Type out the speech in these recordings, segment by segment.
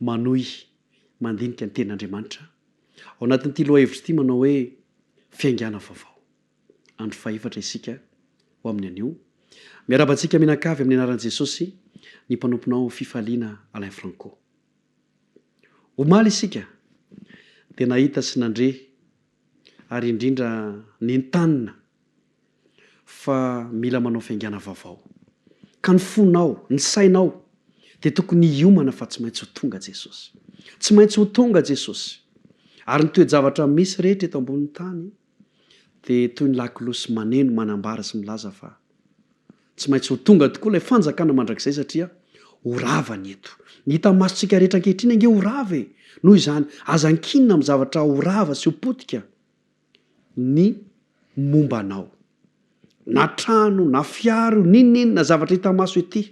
manohy mandinika ny Tenin'Andriamanitra ao anatin'ity lohahevitra ity manao hoe Fiaingàna Vaovao. Andro fahefatra isika ho amin'ny anio. Miarahaba antsika mianakavy amin'ny anaran'i Jesosy ny mpanomponao Fifaliana Alain Franco. Omaly isika dia nahita sy nandre ary indrindra nentanina fa mila manao fiaingàna vaovao. Ka ny fonao, ny sainao dia tokony hiomana fa tsy maintsy ho tonga Jesosy. Tsy maintsy ho tonga Jesosy. Ary ny toe-javatra misy rehetra eto ambonin'ny tany dia toy ny lakolosy maneno, manambara sy milaza fa. Tsy maintsy ho tonga tokoa ilay Fanjakana mandrakizay satria ho rava ny eto. Ny hitan'ny masontsika rehetra ankehitriny ange ho rava e! Noho izany, aza ankinina amin'ny zavatra ho rava sy ho potika ny momba anao. Na trano, na fiara io, n'inon'inona na zavatra hita maso ety,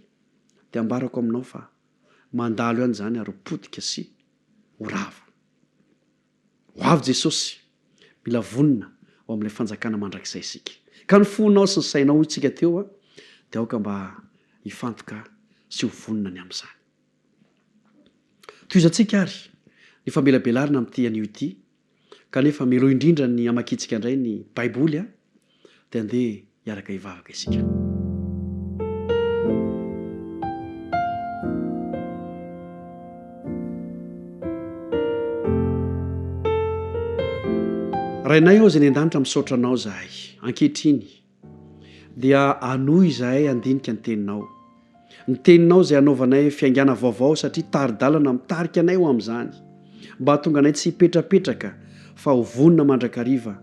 dia ambarako aminao fa mandalo ihany izany ary ho potika sy ho rava. Ho avy Jesosy! Mila vonona ho amin'ilay fanjakana mandrakizay isika. Ka ny fonao sy ny sainao, hoy tsika teo, dia aoka mba hifantoka sy ho vonona ny amin'izany. Tohizantsika àry ny famelabelarana amin'ity anio ity, kanefa meloha indrindra ny hamakiantsika indray ny Baiboly. dia andeha hiaraka hivavaka isika. Rainay ô izay any an-danitra misaotra anao izahay ankehitriny dia hanohy izahay handinika ny teninao. Ny teninao izay hanaovanay fiaingàna vaovao satria tari-dalana mitarika anay ho amin'izany, mba hahatonga anay tsy hipetrapetraka fa ho vonona mandrakariva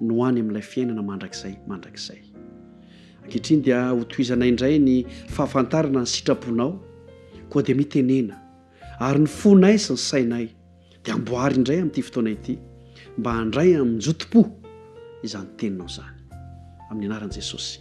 no any amin'ilay fiainana mandrakizay mandrakizay. Ankehitriny dia hotohizanay indray ny fahafantarana ny sitraponao, koa dia mitenena ary ny fonay sy ny sainay dia amboary indray amin'ity fotoana ity mba handray amin-jotom-po izany teninao izany. Amin'ny anaran'i Jesosy.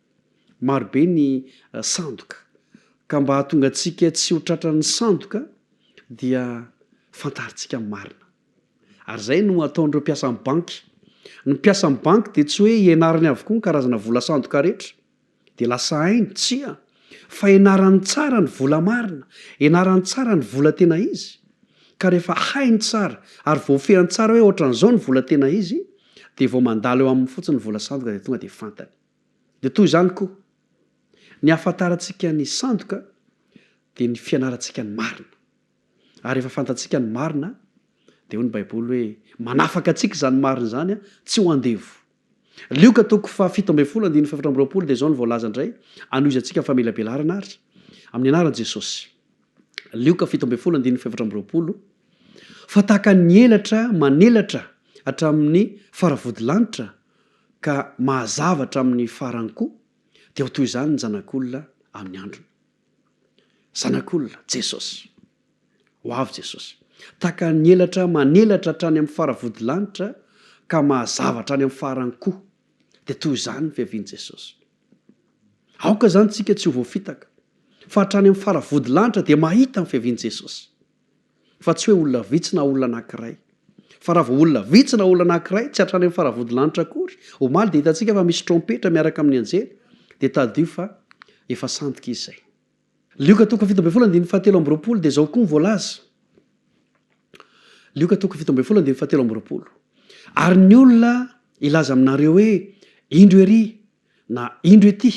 Marobe ny sandoka, ka mba hahatonga antsika tsy ho tratran'ny sandoka dia fantarintsika ny marina. Ary izay no ataon'ireo mpiasan'ny banky. Ny mpiasan'ny banky dia tsy hoe ianarany avokoa ny karazana vola sandoka rehetra, dia lasa hainy, tsia, fa ianarany tsara ny vola marina, ianarany tsara ny vola tena izy, ka rehefa hainy tsara ary voafehiny tsara hoe ohatran'izao ny vola tena izy, dia vao mandalo eo aminy fotsiny ny vola sandoka dia tonga dia fantany. Dia toy izany koa, ny ahafantarantsika ny sandoka dia ny fianarantsika ny marina. Ary rehefa fantatsika ny marina, dia hoy ny Baiboly hoe, Manafaka antsika izany marina izany, tsy ho andevo. Lioka toko fahafito ambin'ny folo andininy fahefatra amby roapolo dia izao no voalaza indray, Hanohizantsika ny famelabelarana àry, amin'ny anaran'i Jesosy. Lioka fito ambin'ny folo andininy fahefatra amby roapolo, Fa tahaka ny elatra manelatra hatramin'ny faravodilanitra ka mahazava hatramin'ny farany koa, dia ho toy izany ny Zanak'olona amin'ny androny. Zanak'olona, Jesosy. Ho avy Jesosy. Tahaka ny elatra manelatra hatrany amin'ny faravodilanitra ka mahazava hatrany amin'ny farany koa, dia toy izany ny fiavian'i Jesosy. Aoka izany isika tsy ho voafitaka, fa hatrany amin'ny faravodilanitra dia mahita ny fiavian'i Jesosy. fa tsy hoe olona vitsy na olona anankiray. Fa raha vao olona vitsy na olona anankiray, tsy hatrany amin'ny faravodilanitra akory, omaly dia hitantsika fa misy trompetra miaraka amin'ny anjely, dia tadidio fa efa sandoka izy izay. Lioka toko fito ambin'ny folo andininy fahatelo amby roapolo dia izao koa ny voalaza. Lioka toko fito ambin'ny folo andininy fahatelo amby roapolo. Ary ny olona hilaza aminareo hoe indro ery na indro ety,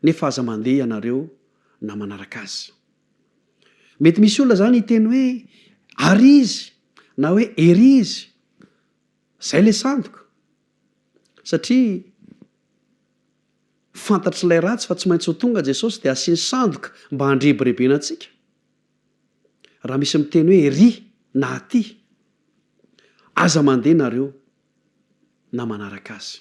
nefa aza mandeha ianareo na manaraka azy. Mety misy olona izany hiteny hoe, Ary izy! na hoe, Ery izy! Izay ilay sandoka. Satria fantatr'ilay ratsy fa tsy maintsy ho tonga Jesosy dia asiany sandoka mba handrebirebena antsika. Raha misy miteny hoe, Ery! na Aty! aza mandeha nareo na manaraka azy.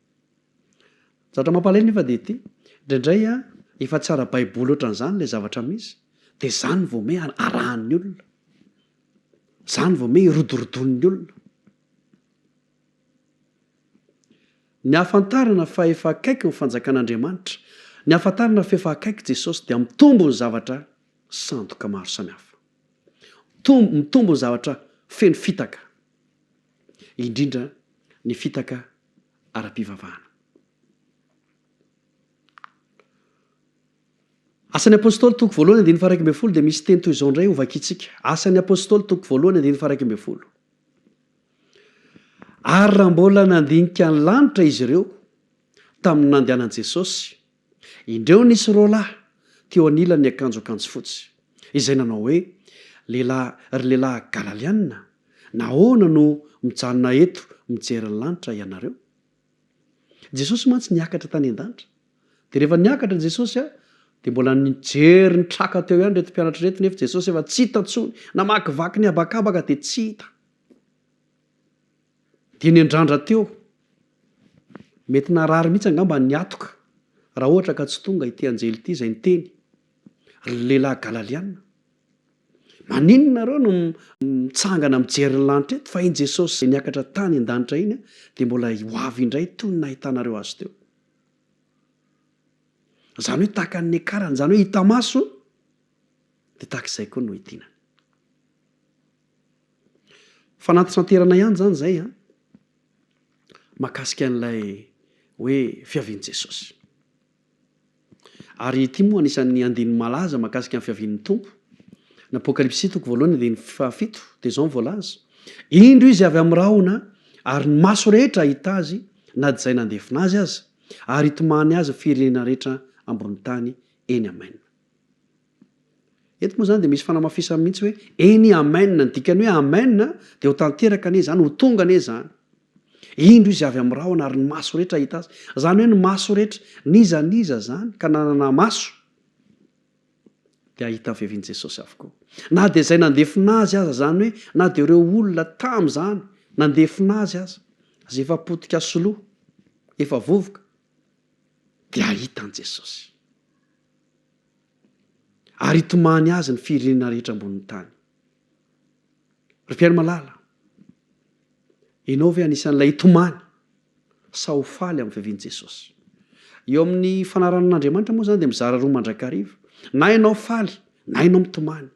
Ny zavatra mampalahelo nefa dia ity, indraindray efa tsy ara-baiboly ohatran'izany ilay zavatra misy dia izany vao ome arahan'ny olona, izany vao ome irodorodoan'ny olona. Ny ahafantarana fa efa akaiky ny fanjakan'Andriamanitra, ny ahafantarana fa efa akaiky Jesosy dia mitombo ny zavatra sandoka maro samihafa. Mitombo, mitombo ny zavatra feno fitaka, indrindra ny fitaka ara-pivavahana. Asan'ny Apôstôly toko voalohany andininy faha iraika ambin'ny folo dia misy teny toy izao indray hovakiantsika. Asan'ny Apôstôly toko voalohany andininy faha iraika ambin'ny folo. Ary raha mbola nandinika ny lanitra izy ireo tamin'ny nandehanan'i Jesôsy, Indreo nisy roa lahy teo anilan'ny akanjo akanjo fotsy, izay nanao hoe, Lehilahy, ry lehilahy Galaliana, nahoana no mijanona eto mijery ny lanitra ianareo? Jesosy mantsy niakatra tany an-danitra. Dia rehefa niakatra Jesosy, dia mbola nijery ny traka teo ihany ireto mpianatra ireto, nefa Jesosy efa tsy hita intsony. Namakivaky ny habakabaka dia tsy hita. Dia nendrandra teo. Mety narary mihitsy angamba ny hatoka raha ohatra ka tsy tonga ity anjely ity izay niteny, Ry lehilahy Galaliana, maninona nareo no mitsangana mijery ny lanitra eto fa iny Jesosy izay niakatra tany an-danitra iny dia mbola ho avy indray toy ny nahitanareo azy teo? Izany hoe tahaka ny niakarany, izany hoe hita maso, dia tahaka izay koa no hitinany. Fanantisanterana ihany izany izay an, mahakasika an'ilay hoe fiavian'i Jesosy. Ary ity moa anisan'ny andininy malaza mahakasika ny fiavian'ny Tompo. Ny Apokalypsy toko voalohany andininy fahafito dia izao ny voalaza, Indro izy avy amin'ny rahona, ary ny maso rehetra hahita azy, na dia izay nandefona azy aza, ary hitomany azy ny firenena rehetra ambony tany. Eny, amena. Eto moa izany dia misy fanamafisana mihitsy hoe eny amen, ny dikan'ny hoe amen dia ho tanteraka anie izany, ho tonga anie izany. Indro izy avy amin'ny rahona ary ny maso rehetra hahita azy. Izany hoe ny maso rehetra, n'iza n'iza izany ka nanana maso dia hahita vevin'i Jesosy avokoa. Na dia izay nandefona azy aza, izany hoe na dia ireo olona tamin'izany nandefona azy aza, izay efa potika sy lo, efa vovoka, dia hahita an'i Jesosy. ary hitomany azy ny firenena rehetra ambonin'ny tany. Ry mpihaino malala, ianao ve anisan'ilay hitomany sa ho faly amin'ny fiavian'i Jesosy? Eo amin'ny fanaranan'Andriamanitra moa izany dia mizara roa mandrakariva. Na ianao faly, na ianao mitomany.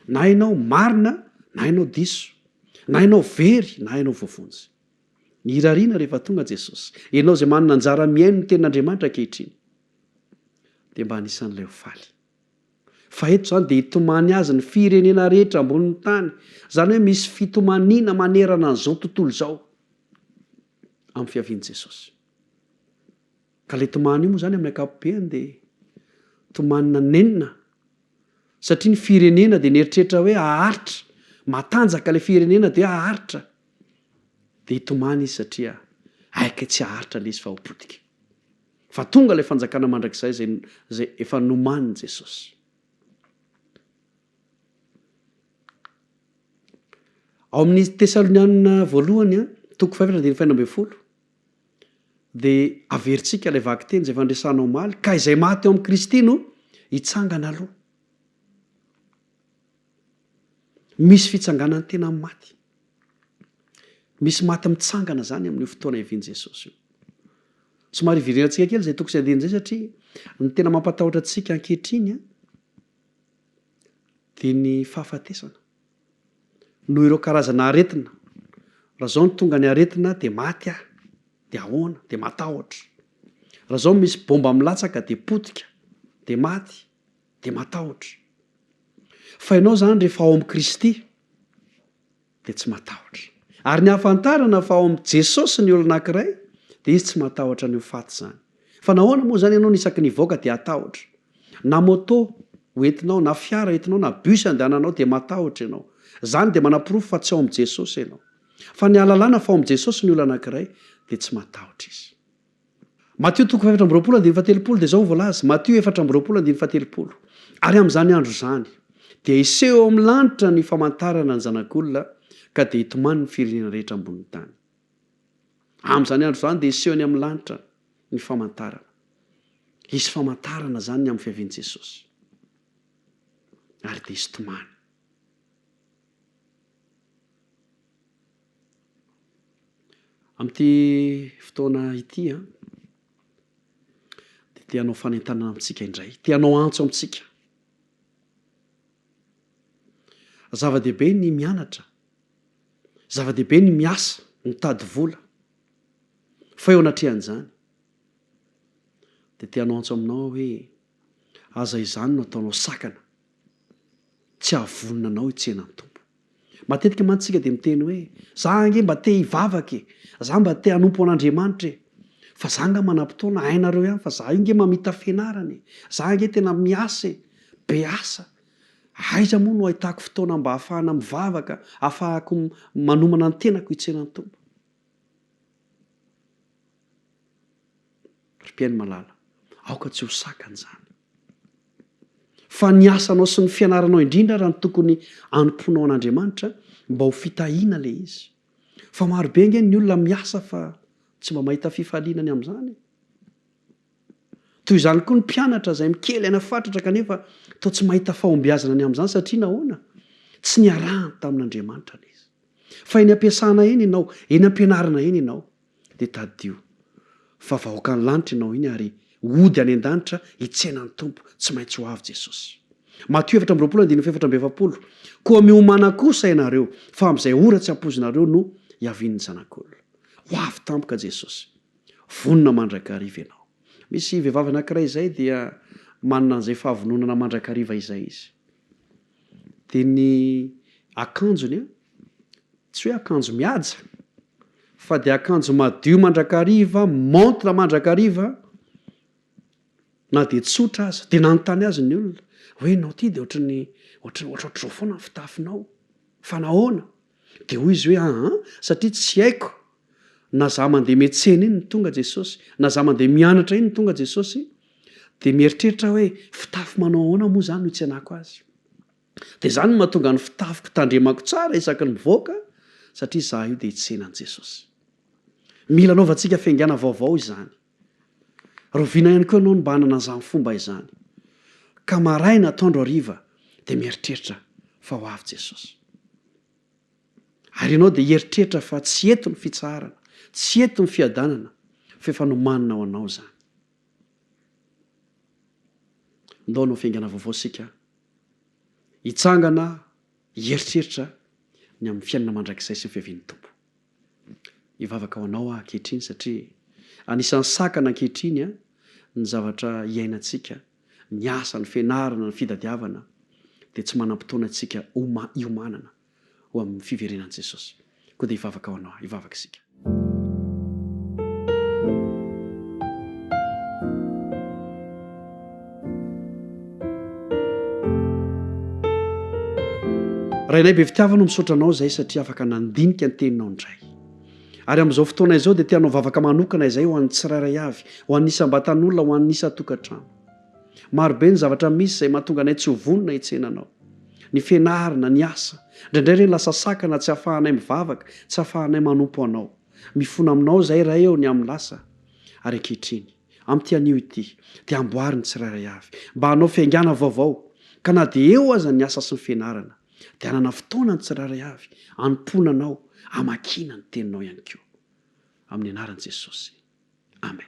Na ianao marina, na ianao diso. Na ianao very, na ianao voavonjy. Ny irariana rehefa tonga Jesosy. Ianao izay manana anjara mihaino ny tenin'Andriamanitra ankehitriny. dia mba anisan'ilay ho faly. Fa eto izany dia hitomany azy ny firenena rehetra ambonin'ny tany. Izany hoe misy fitomaniana manerana an'izao tontolo izao amin'ny fiavian'i Jesosy. Ka ilay tomany io moa izany amin'ny ankapobeny dia tomanina nenina satria ny firenena dia nieritreritra hoe haharitra, matanjaka ilay firenena dia haharitra. Dia hitomany izy satria aika tsy haharitra ilay izy fa ho potika. Fa tonga ilay fanjakana mandrakizay izay izay efa nomanin'i Jesosy. Ao amin'ny Tesalonianina voalohany, toko fahefatra andininy fahenina ambin'ny folo, dia averintsika ilay vakiteny izay fandresana omaly, ka izay maty ao amin'i Kristy no hitsangana aloha. Misy fitsanganan'ny tena amin'ny maty. Misy maty mitsangana izany amin'io fotoana hiavian'i Jesosy io. Somary hiverenantsika kely izay toko sy andiany izay satria ny tena mampatahotra antsika ankehitriny dia ny fahafatesana. Noho ireo karazana aretina. Raha izao no tonga ny aretina dia maty aho. Dia ahoana? Dia matahotra. Raha izao misy bomba milatsaka dia potika. Dia maty. dia matahotra. Fa ianao izany rehefa ao amin'i Kristy dia tsy matahotra. Ary ny ahafantarana fa ao amin'i Jesosy ny olona anankiray dia izy tsy matahotra an'io faty izany. Fa nahoana moa izany ianao no isaky ny hivoaka dia hatahotra? Na moto ho entinao, na fiara entinao, na bus andehananao dia matahotra ianao. Izany dia manaporofo fa tsy ao amin'i Jesosy ianao. Fa ny ahalalana fa ao amin'i Jesosy ny olona anankiray dia tsy matahotra izy. Matio toko fahefatra amby roapolo andininy fahatelopolo dia izao no voalaza, Matio efatra amby roapolo andininy fahatelopolo, Ary amin'izany andro izany dia hiseho eo amin'ny lanitra ny famantarana ny Zanak'olona ka dia hitomany ny firenena rehetra ambonin'ny tany. Amin'izany andro izany dia hiseho any amin'ny lanitra ny famantarana. Hisy famantarana izany ny amin'ny fiavian'i Jesosy. Ary dia hisy tomany. Amin'ity fotoana ity a, dia te hanao fanentanana amintsika indray. Te hanao antso amintsika. Zava-dehibe ny mianatra. Zava-dehibe ny miasa, mitady vola. Fa eo anatrehan'izany, dia te hanao antso aminao aho hoe, Aza izany no ataonao sakana. Tsy hahavonona anao hitsena ny Tompo. Matetika mantsy isika dia miteny hoe, Za ange mba te hivavaka e! Za mba te hanompo an'Andriamanitra e! Fa za nga manam-potoana, hainareo ihany fa za io nge mamita fianarana e! Za ange tena miasa e! Be asa! Aiza moa no ahitako fotoana mba hahafahana mivavaka, hahafahako manomana ny tenako hitsena ny Tompo? Ry mpihaino malala, aoka tsy ho sakana izany, fa ny asanao sy ny fianaranao indrindra ary no tokony hanompoanao an'Andriamanitra mba ho fitahiana ilay izy. Fa maro be ange ny olona miasa fa tsy mba mahita fifaliana ny amin'izany. Toy izany koa ny mpianatra izay mikely aina fatratra kanefa toa tsy mahita fahombiazana ny amin'izany satria nahoana? Tsy niarahany tamin'Andriamanitra ilay izy. Fa eny am-piasana eny ianao, eny am-pianarana eny ianao, Dia tadidio fa vahoakan'ny lanitra ianao iny ary hody any an-danitra hitsena ny Tompo. Tsy maintsy ho avy Jesosy. Matio efatra amby roapolo andininy fahefatra amby efapolo Koa miomana kosa ianareo, fa amin'izay ora tsy ampoizinareo no hiavian'ny Zanak'olona. Ho avy tampoka Jesosy. Vonona mandrakariva ianao. Misy vehivavy anankiray izay dia manana an'izay fahavononana mandrakariva izay izy. Dia ny akanjony an, tsy hoe akanjo mihaja, fa dia akanjo madio mandrakariva, montre mandrakariva, na dia tsotra aza. Dia nanontany azy ny olona hoe, ianao ity dia ohatran'ny, ohatran'ny, ohatrao foana ny fitafinao, fa nahoana? Dia hoy izy hoe, Aa, satria tsy haiko na za mandeha miantsena iny no tonga Jesosy, na za mandeha mianatra iny no tonga Jesosy, dia mieritreritra aho hoe, fitafy manao ahoana moa izany no hitsenako Azy? Dia izany no mahatonga ny fitafiko tandremako tsara isaky ny mivoaka, satria izaho io dia hitsena an'i Jesosy. Mila anaovantsika fiaingàna vaovao izany. Rahoviana ihany koa ianao no mba hanana an'izany fomba izany, ka maraina, atoandro, hariva dia mieritreritra fa ho avy Jesosy. Ary ianao dia hieritreritra fa tsy eto ny fitsaharana, tsy eto ny fiadanana, fa efa nomanina ho anao izany. Ndao hanao fiaingana vaovao isika, hitsangana hieritreritra ny amin'ny fiainana mandrakizay sy ny fiavian'ny Tompo. Hivavaka ho anao aho ankehitriny satria anisan'ny sakana ankehitriny ny zavatra iainantsika, ny asa, ny fianarana, ny fitadiavana dia tsy manam-potoana antsika hiomanana ho amin'ny fiverenan'i Jesosy. Koa dia hivavaka ho anao aho. Hivavaka isika. Rainay be fitiavana misaotra anao izay satria afaka nandinika ny teninao indray. Ary amin'izao fotoana izao dia te hanao vavaka manokana izay ho an'ny tsirairay avy, ho an'ny isam-batan'olona, ho an'ny isan-tokantrano. Marobe ny zavatra misy izay mahatonga anay tsy ho vonona hitsena anao. Ny fianarana, ny asa, indraindray ireny lasa sakana tsy ahafahanay mivavaka, tsy ahafahanay manompo anao. Mifona aminao izahay Ray ô ny amin'ny lasa ary ankehitriny. Amin'ity anio ity, dia amboary ny tsirairay avy mba hanao fiaingàna vaovao, ka na dia eo aza ny asa sy ny fianarana, dia hanana fotoana ny tsirairay avy hanompoana Anao, hamakiana ny Teninao ihany koa. Amin'ny Anaran'i Jesosy. Amen.